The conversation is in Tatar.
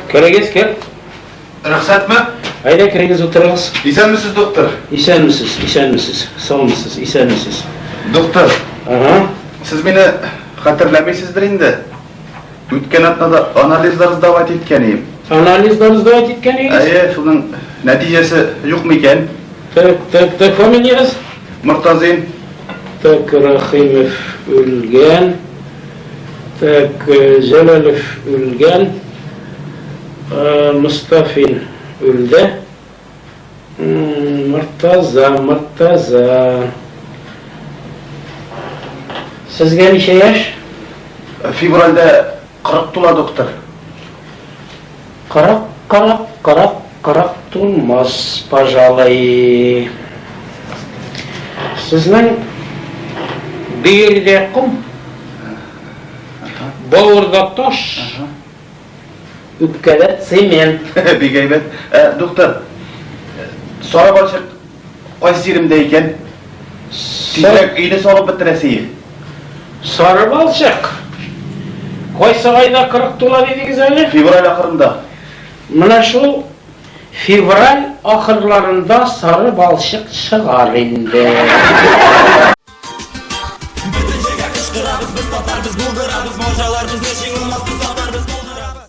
Керегез, кер. Рөхсәтме? Әйдә керегез, утырыгыз. Исәнмесез, доктор. Исәнмесез, исәнмесез. Саумысыз, исәнмесез. Доктор. Ага. Сез мине хәтерләмисездер инде. Үткән атнада анализлар сдавать иткән идем. Анализлар сдавать иткән идегез? Әйе, шуның нәтиҗәсе юкмы икән? Тык, тык, тык, фамилиягез? Мортазин. Так, Рахимов үлгән. Так, Җәләлов үлгән. Мостафин үлде. Мортаза, Мортаза. Сезгә ничә яшь? Февральдә Кырык тула, доктор. Кырык, кырык, кырык, кырык тулмас, пожалуй. Сезнең бөергә ком, бавырда таш, үпкәдә цемент. Бик әйбәт. Ә, доктор, сары балчык Кайсы җиремдә икән? Тизрәк өйне салып бетерәсеем. Сары балчык. Кайсы айда 40 тула дидегез әле? Февраль ахырында. Менә шул февраль ахырларында сары балчык чыгар инде. Бөтен җиргә кычкырабыз, без татар, без булдырабыз, морҗалар безне җиңелмас, без татар, без булдырабыз.